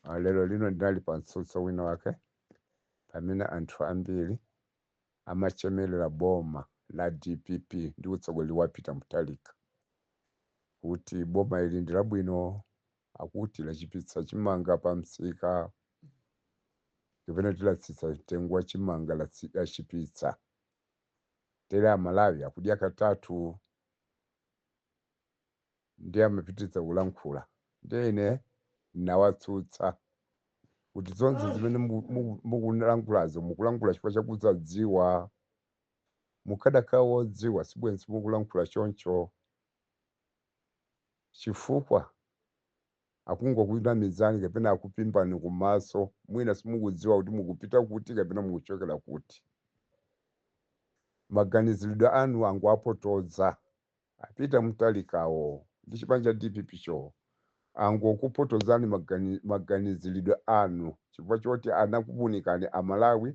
Ah, lero lino ndinali pa mtsutso wina wake pamene anthu ambiri amachemerera boma la dpp ndi utsogoleri wa peter mutharika kuti boma ili ndi labwino akuti lachipitsa chimanga pa msika kapena kuti latsitsa mtengo wa chimanga latsi- lachipitsa tere amalawi akudya katatu ndiye amapitiriza kulankhula. Ndiye ine ndinawatsutsa kuti zonse zimene muku- muku- mukulankhulazo mukulankhula chifukwa chakusadziwa. Mukadakhala wodziwa sibwenzi mukulankhula choncho, chifukwa akungokunamizani kapena akupimbani kumaso, mwina simukudziwa kuti mukupita kuti kapena mukuchokera kuti. Maganiziridwe anu angowapotoza. A Peter Mutharikawo ndi chipani cha dpp cho angokupotozani maganizilidwe anu chifukwa choti anakuwunikani Amalawi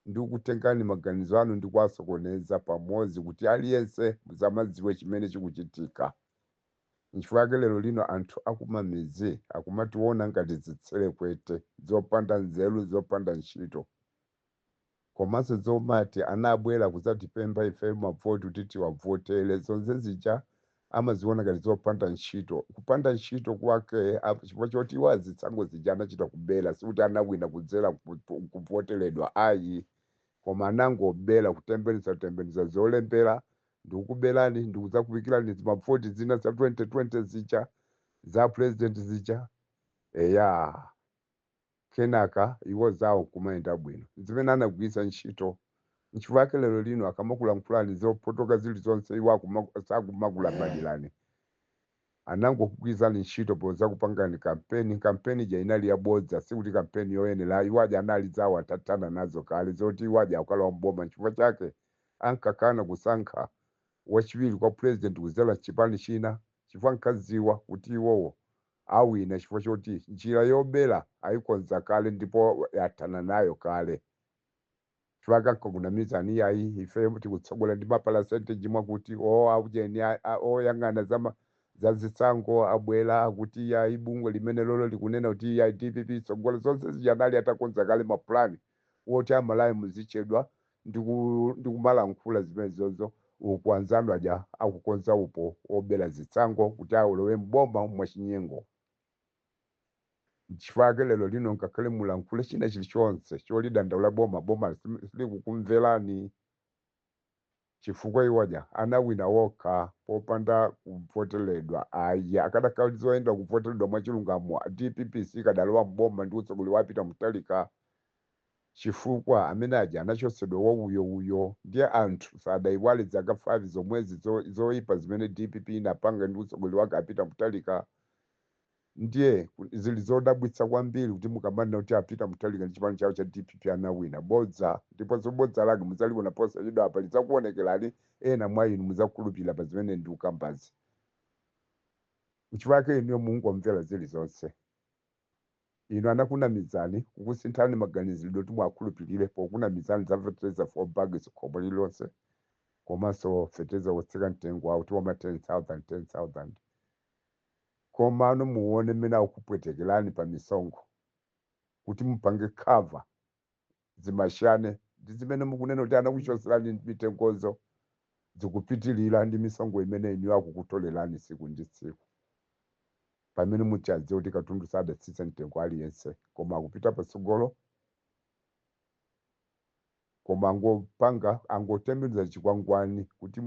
ndi kukutengani maganizo anu ndi kuwasokoneza pamodzi kuti aliyense musamadziwe chimene chikuchitika. Nchifukwa chake lero lino anthu akumamidzi akumatiwona ngati zitselekwete zopanda nzeru zopanda ntchito. komaso zomati anabwela kuzatipempha ifeyo mavoti kuti tiwavotele zonzezija amaziona ngati zopanda ntchito kupanda ntchito kwake ap chifukwa choti iwo zisankho zija anachita kubela sikuti anawina kudzela kuvoteledwa ayi koma anangobela kutembenuza tembenuza zolembela ndikukubelani ndikuzakuikilani zimavoti zina za 2020 zija za president zija eya kenaka iwo zawo nkumayenda bwino, zimene anagwiritsa ntchito. Nchifukwa chake lero lino akamakulankhulani zopotoka zilizonse iwo akuma, sakumakulabadirani. Anangokugwiritsani ntchito podzakupangirani kampeni, kampeni ija inali yabodza, sikuti kampeni yoyenera ayi, iwo aja anali zawo atathana nazo kale zoti iwo aja akukalowa m'boma nchifukwa chake ankakana kusankha wachiwiri kwa president kudzera mchipani china chifukwa ankadziwa kuti iwowo awina chifukwa choti njira yobera ayikonza kale ndipo athana nayo kale. Chifukwa ankangokunamizani iyayi ife tikutsogola ndi mapalasenteji mwakuti o aujeni a- a- oyang'ana za ma- za zisankho abwera akuti iyayi bungwe limenelolo likunena kuti iyayi dpp itsogola zonse zija anali atakonza kale mapulani woti amalawi muzichedwa ndi ku ndi kumalankhula zimenezozo uku anzanu aja akukonza upo wobera zisankho kuti awolowe m'boma mwachinyengo nchifukwa ake lero lino ngakhale mulankhule china chilichonse cholidandaula boma boma sim- silikukumverani chifukwa iwo aja anawina wokha popanda kuvoteledwa ayi akadakhala zoyenda kuvoteledwa mwachilungamo dpp sikadalowa m'boma ndi utsogoleri wa Peter Mutharika chifukwa amene aja anachotsedwa wa uyo uyo ndiye anthu sadaiwale zaka 5 zomwezi zoipa zimene dpp inapanga ndi utsogoleri wake a Peter Mutharika Ndiye zili zodabwitsa kwambiri kuti mukamanena kuti a Peter Mutharika ndi chipani chawo cha dpp anawina. Bodza! Ndiponso bodza lake mudzaliona posachedwapa lidzakuonekerani, ena mwa inu mudzakhulupirira pa zimene ndikukambazi. Nchifukwa chake inuyo mungomvera zilizonse. Inu anakunamizani, kukusinthani maganizidwe kuti muwakhulupirire pokunamizani za fetereza 4 bags khomo lililonse komanso fetereza wotsika mtengo wawo woti wa ma 10,000, 10,000. komano muone mmene akukupwetekelani pa misonkho kuti mupange cover zimachane ndi zimene mukunena kuti anakuchoselani mitengozo zikupitilila ndi misonkho imene inuyo akukutolelani tsiku ndi tsiku pamene muchidziwa kuti katundu sadatsitsa mtengo aliyense koma akupita patsogolo koma angopanga angotembenuza chikwangwani kuti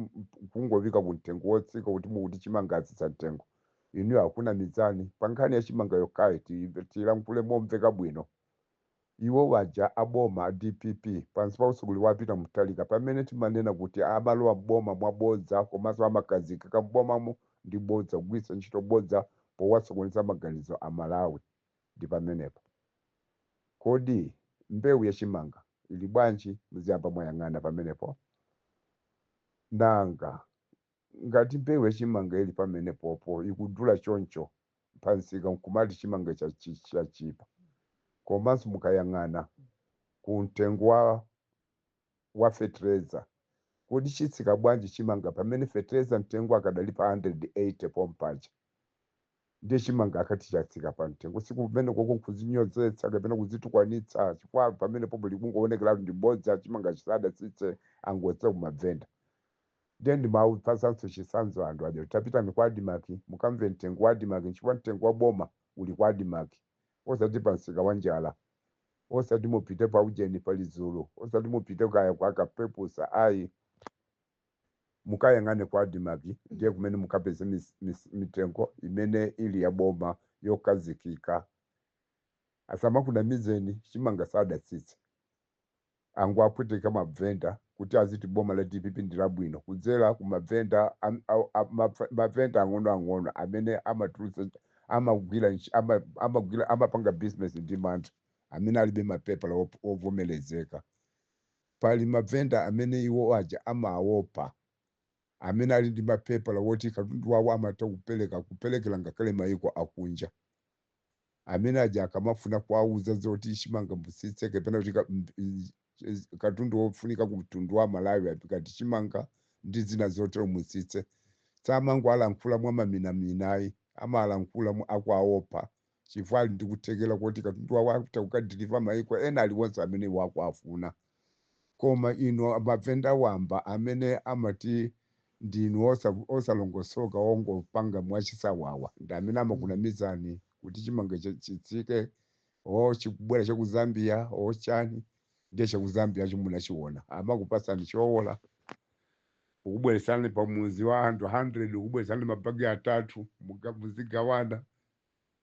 kungoika ku mtengo wotsika kuti mukuti chimanga atsitsa mtengo inuyo akunamizani pa nkhani ya chimanga yokhayi tiyimve- tilankhule momveka bwino iwo waja aboma a dpp pansi pa utsogoleri wa a Peter Mutharika pamene timanena kuti amalowa m'boma mwa bodza komanso amakhazikika m'bomamo ndi bodza kugwiritsa ntchito bodza powasokoneza maganizo amalawi Ndi pamenepo. Kodi mbewu ya chimanga ili bwanji? Muziyamba mwayang'ana pamenepo. Nanga, ngati mbewu ya chimanga ili pamenepopo, ikudula choncho pa msika nkumati chimanga ichi achi, chatchipa. Komanso mukayang'ana ku mtengo wa wa fetereza kodi chitsika bwanji chimanga pamene fetereza mtengo akadali pa 180 pompaja ndiye chimanga akati chatsika pa mtengo sikumenekoko nkuzinyozetsa kapena kuzitukwanitsa chifukwa pamene popo likungowonekeratu ndi bodza chimanga chisadatsitse angotsitsa kumabvenda ndiye ndimawupatsanso chitsanzo anthu aja tapitani kwa adimaki mukamve mtengo wa adimaki chifukwa mtengo wa boma uli kwa adimaki Osati pa msika wa njala, osati mupite pa ujeni pali zulu, osati mupite kaya kwa kapepusa ayi. Mukayang'ane kwa Admarc ndiye kumene mukapeze mis, mis, mitengo imene ili ya boma yokhazikika. Asamakunamizeni chimanga sadatsitse. akuwapweteka mavenda kuti aziti boma la dpp ndi labwino kudzera ku mavenda am- a- a- maf- mavenda ang'onoang'ono amene amatulutsa amagwira ntch- ama- amagwira amapanga business ndi mantha amene alibe mapepala op- ovomerezeka pali mavenda amene iwo aja amaopa amene ali ndi mapepala woti katundu wawo amatha kupereka kuperekera ngakhale mayiko akunja amene aja akamafuna kuwauza zoti chimanga mutsitse kapena kuti ka- m- i- i- katundu wofunika ku mtundu wa malawi ngati chimanga ndi zina zotero mutsitse samangowalankhula mwa maminaminayi amalankhula mu- akwaopa chifukwa ali ndi kuthekera koti katundu wawo akutha kukadiliva maiko ena aliwonse amene wakuafuna Koma inu mavenda wamba amene amati ndinu osa, osalongosoka ongopanga mwachisawawa ndi amene amakunamizani kuti chimanga chatsika or chikubwera cha ku Zambia or chani ndiye cha ku Zambiacho munachiona amakupasani choola kukubweretsani pa mudzi wa anthu 100 kukubweretsani mabagi atatu muga, muzigawana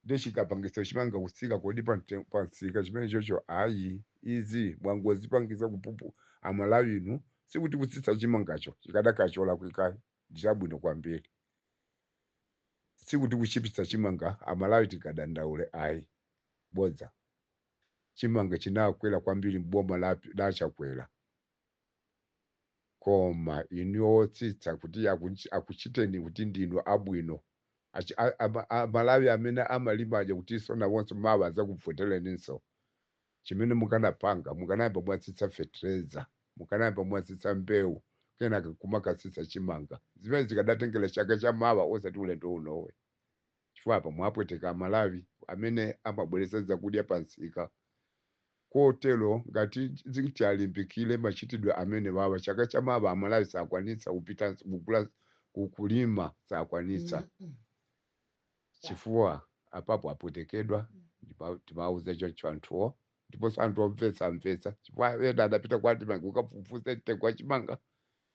Nde chikapangitsa chimanga kutsika kodi pa mte pa msika chimenechocho ayi izi mwangozipangitsa kupupu amalawi inu sikuti kutsitsa chimangacho chikadakhala cholakwika ayi ndi chabwino kwambiri sikuti kutchipitsa chimanga amalawi tingadandaule ayi bodza chimanga chinakwera kwambiri m'boma la la chakwera koma inuyo otsitsa kuti akuch- akuchiteni kuti ndinu abwino Achi- a- ama- a- malawi amene amalima aja kuti iwonso mawa adzakuvotereninso chimene mukanapanga mukanayamba mwatsitsa fetereza mukanayamba mwatsitsa mbewu kenaka kumakatsitsa chimanga zimene zikadatengera chaka cha mawa osati ulendo unowe chifukwa apa mwapweteka amalawi amene amabweretsa zakudya pa msika kotero ngati zingati alimbikire machitidwe amenewawa chaka cha mawa amalawi sakwanitsa kupita kugula ku- kulima sakwanitsa chifukwa apapo apwetekedwa ndipo timawuza choncho anthuwo ndiponso anthu omvetsa amvetsa chifukwa ena adapita kwa admarc kukafufuza mtengo wa chimanga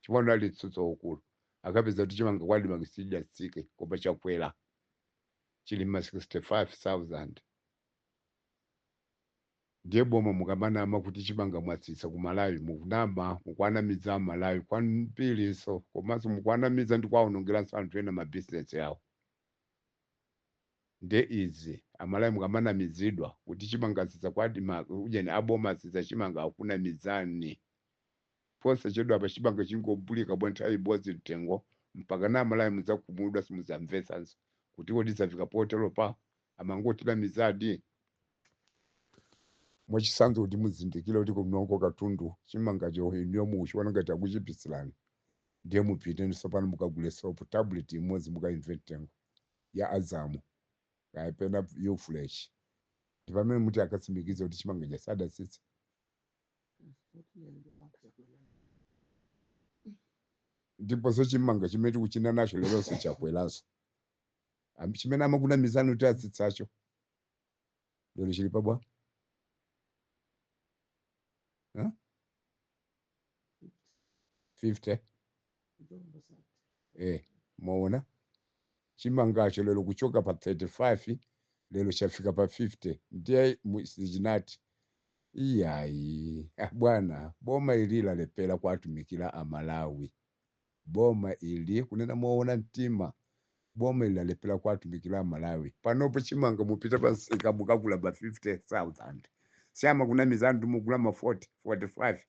chifukwa unali mtsutso ukulu akapeza kuti chimanga kwa admarc sichidatsike koma chakwera chili ma 65000 ndiye boma mukamanama kuti chimanga mwatsitsa ku malawi mukunama mukwanamiza amalawi kwambirinso komanso mukwanamiza ndi kwaonongeranso anthu ena mabizinesi awo nde izi amalawi mukamanamizidwa kuti chimanga atsitsa kwa admarc ujeni aboma atsitsa chimanga akunamizani Posachedwapa chimanga chingobulika bwa nthawi imbodzi mtengo mpakana amalawi mudzakhumudwa simudzamvetsanso kuti kodi zafika poteropa? Amangotinamizadi? Mwachitsanzo kuti muzindikire kuti kunoko katundu chimangacho inuyo mukuchiona ngati akuchipisirani ndiye mupite tsopano mukagule sopo tabuleti imodzi mukaimve mtengo ya azamu kapena Ufresh ndipamene muti akatsimikize kuti chimanga chija sadatsitsa. ndiponso chimanga chimene tikuchinenacho leronso chakweranso Am- chimene amakunamizani kuti atsitsacho lero chili pabwa Huh? 50 eh mwaona chimangacho lero kuchoka pa 35 lero chafika pa 50 ndiye mu- sichinati iyayi ah, bwana boma ili lalepera kuwatumikira amalawi boma ili kunena moona mtima boma ili lalepera kuwatumikira amalawi panopo chimanga mupita pa msika mukagula pa 50000 si amakunamizani kuti mugula ma 40 45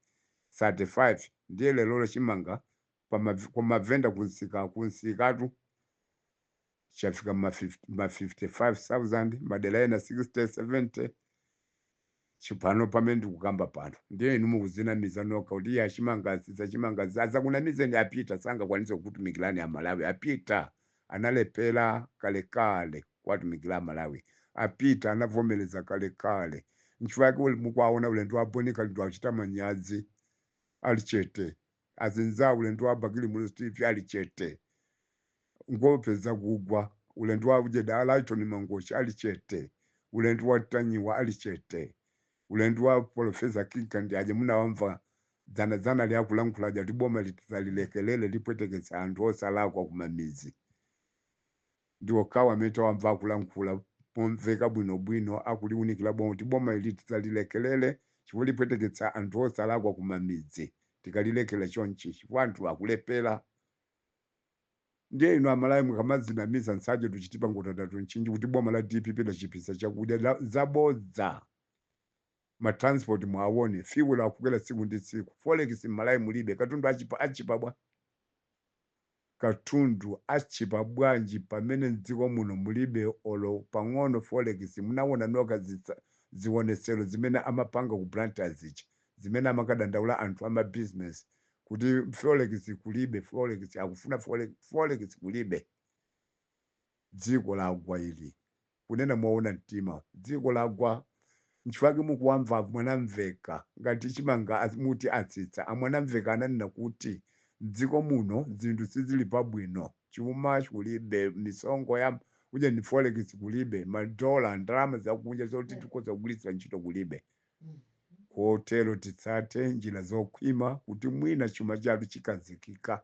35 ndiye lerolo chimanga pa ma- kwa mavenda kunsika kunsikatu chafika ma 50 ma 55000 madera ena 60 70 chipano pamene ndikukamba pano ndiye inu mukuzinamiza nokha kuti iye zachimangazi zachimangazi azakunamizeni a peter sangakwanise kukutumikirani amalawi a peter analephera kalekale kuwatumikira amalawi a peter anavomereza kalekale nchifukwa chake uli- mukuwaona ulendo wa boni kalindo akuchita manyazi ali chete azinzawo ulendo wa bakili muluzi tv ali chete angopeza kugwa ulendo wa ujeda alaitoni mangochi ali chete ulendo wa ntanyiwa ali chete ulendo wa profesa kinka ndi aja munawamva Dzana dzanali akulankhula aja kuti boma ili tisalilekelele lipweteketsa anthu osalakwa kumamidzi. Ndi okhawo amene tawamva akulankhula momveka bwino bwino akuliunikila boma kuti boma ili tisalilekelele chifukwa lipweteketsa anthu osalakwa kumamidzi. Tikalilekela chonchi chifukwa anthu akulephela. Ndiye inu amalawi mukamadzinamiza nsaje tuchitipa ngota tatunchinji kuti boma la dpp lachipitsa chakudya, zabodza. ma transport muwaone, fuel akukwera tsiku ndi tsiku, forex mmalawi mulibe, katundu atchipa bwa- katundu atchipa bwanji pamene mdziko muno mulibe olo pang'ono forex, munawona nokha zitsa, ziwonetsero zimene amapanga ku Blantyre zija, zimene amakadandaula anthu ama business kuti forex kulibe, forex akufuna forex, forex kulibe, dziko lagwa ili. Kunena moona mtima dziko lagwa nchifukwa mukuwamva amwanamveka ngati chimanga muti atsitsa. Amwanamveka ananena kuti mdziko muno zinthu sizili pabwino chuma kulibe, misonkho ya ujeni forex kulibe, ma dollar, ndalama zakunja zoti tikhoza kugwiritsira ntchito kulibe kotero titsate njira zokhwima kuti mwina chuma chathu chikhazikika.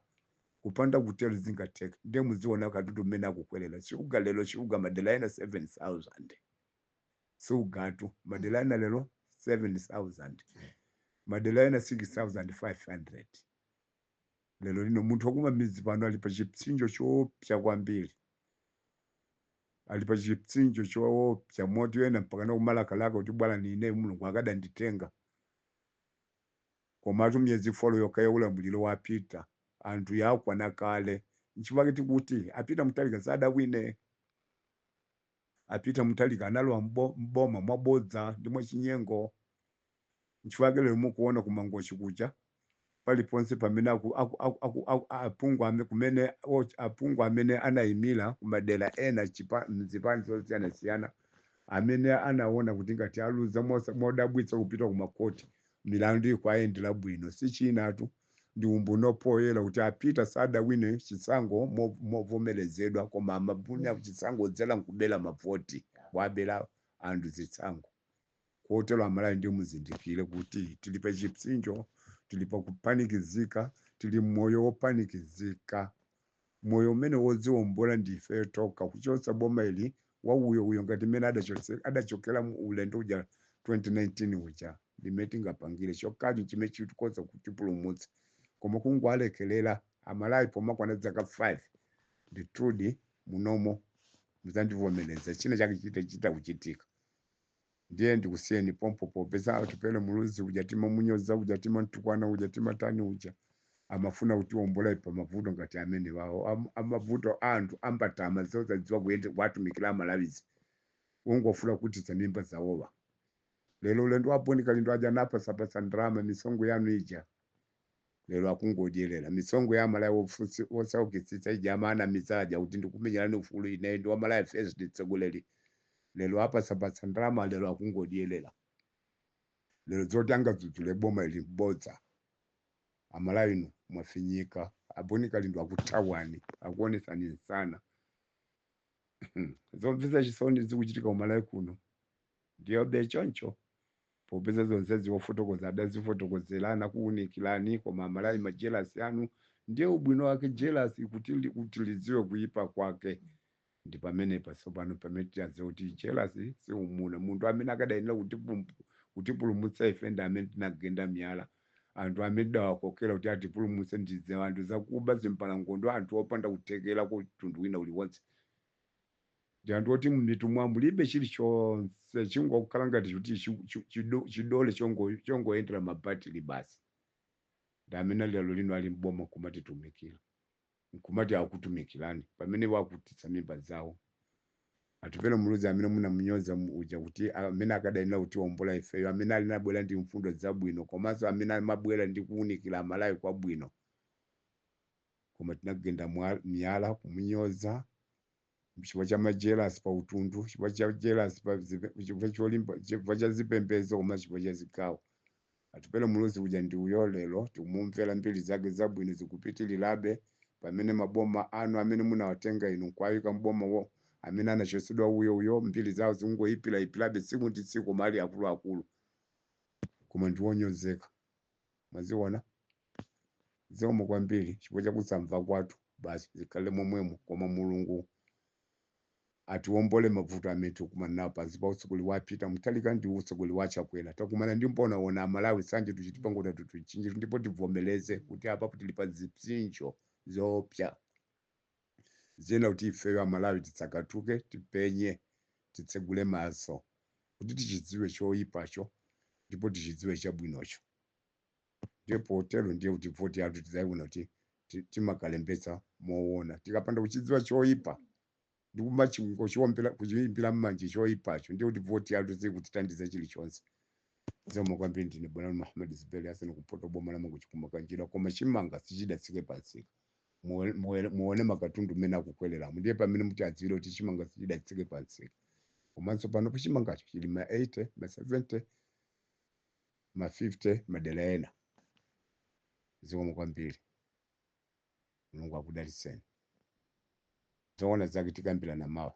kupanda kutero sizingatheke ndiye muziona katundu mmene akukwelera shuga lero shuga madera ena 7000 sugatu madera ena lero 7000 madera ena 6500 lero lino munthu wakumamidzi pano ali pa chipsinjo choopsa kwambiri ali pa chipsinjo choopsa moti ena mpaka nakumalakalaka kuti bwanji ine mulungu akadanditenga Komatu miyezi 4 yokha ya ulamuliro wa a Peter anthu yakwana kale. Nchifukwa chake tikuti a Peter Mutharika sadawine. A Peter Mutharika analowa m'boma mwabodza ndi mwachinyengo. Nchifukwa chake lero mukuona ku Mangochi kuja paliponse pamene aphungu amene anaimira ku madera ena m'zipani zosiyanasiyana amene anaona kuti ngati aluza modabwitsa kupita ku makhoti milandu ikuwayendera bwino chisonyezotu ndi umboni wapoyera kuti a Peter sadawine chisankho movomerezedwa koma anawina chisankho podzera nkubera mavoti wabera anthu zisankho kotero Amalawi ndi muzindikire kuti tili pa chipsinjo tili pa kupanikizika tili mmoyo wopanikizika moyo umene wodziombola ndi ifeyo tokha kuchotsa boma ili wawuyowuyo ngati mmene adachotse- adachokera mu ulendo uja 2019 uja ndimene tingapangire chokhacho chimene chikhoza kutipulumutsa koma kungowalekelera amalawi pomakwana dzaka 5 ndithudi munomo mudzandivomereza china chake chita kuchitika Ndiye ndikusiyeni pompo popeza Atupele Muluzi uja timamunyoza uja timamtukwana uja timatani uja amafuna kutiombola ife pamavuto ngati amenewawo a mavuto a anthu ambatama zosadziwa ujeni kuwatumikira Amalawizi kungofuna kukhutitsa mimba zawowa lero ulendo a Boni Kalindo aja anapatsapatsa ndalama misonkho yanu ija Lero akungodyelera misonkho ya Amalawi otsaukitsitsa ija amawanamiza aja kuti ndikukumenyerani ufulu ine ndi wa Malawi First mtsogoleri lero apatsapatsa ndalama lero akungodyelera lero zoti angadzudzule boma ili bodza Amalawi inu mwafinyika Aboni Kalindo akuthawani akuonetsani msana zomvetsa chisoni zikuchitika ku Malawi kuno ndiyobe choncho Popeza zonsezi wofotokoza adazifotokozela anakuunikilani koma amalawi ma jealous anu ndiye ubwino wake jealous kuti kuti lidziwe kuipa kwake ndipamenepa tsopano pamene tiyadziwa kuti jealous si umuna munthu amene akadayenera kutipumpu kutipulumutsa ife ndi amene tinagenda miyala anthu amene tidawakokera kuti atipulumutse ndi zianthu zakuba zimbalangondo anthu opanda kuthekera kwa mtundu wina uliwonse ndi anthu oti m'mitu mwawo mulibe chilichonse chingokhala ngati kuti chi- chi- chido- chidole chongo- chongoyendera mabatili basi ndi amene lero lino ali mboma kumatitumikira nkumati akutumikirani pamene wakhutitsa mimba zawo atupele muluzi amene munamunyoza mu- uja kuti amene akadayenera kutiwombola ifeyo amene ali nabwera ndi mfundo zabwino komanso amene amabwera ndi kuwunikira amalawi kwabwino koma tinagenda mwa- miyala kumunyoza chifukwa cha majelasi pa utundu chifukwa cha jelasi pa zipe- chifukwa cholimba chifukwa cha zipembedzo koma chifukwa cha zigawo atupele muluzi uja ndi uyo lero tikumumvera mbiri zake zabwino zikupitirirabe pamene maboma anu amene munawatenga inu nkuwayika mbomawo amene anachotsedwa uyo uyo mbiri zawo zikungoyipirayipirabe tsiku ndi tsiku koma ali akuluakulu koma ndiwonyozeka mwaziona zikomo kwambiri chifukwa cha kusamva kwathu basi zikhale momwemo koma mulungu atiwombole mavuto amene tikukumana nawo pansi pa utsogoli wa peter mutharika ndi utsogoli wa chakwera takumana ndi mbonaona amalawi nsanje tuchitipangota tutuchinjitu ndipo tivomereze kuti apapo tili pa zipsinjo zoopsa zina kuti ifeyo amalawi titsakatuke tipenye titsegule maso kuti tichidziwe choyipacho ndipo tichidziwe chabwinocho ndiye potero ndiye kuti voti yathu tidzayiona kuti ti- timakalembetsa moona tikapanda kuchidziwa choyipa ndikumachiwombera kuchiyimbira mmanje choyipacho ndiye kuti voti yathu sikutithandiza chilichonse zikomo kwambiri ndine bwana muhammad zuberi hassan kuchoka boma la mangochi ku makanjira koma chimanga sichidatsike pansika Muwe- muwe- muone makatundu mmene akukwereramo ndiye pamene mutadziwire kuti chimanga sichidatsike pansika komanso panopa chimangacho chili ma 80 ma 70 ma 50 madera ena zikomo kwambiri mulungu akudalitseni zoona zake tikambirana mawa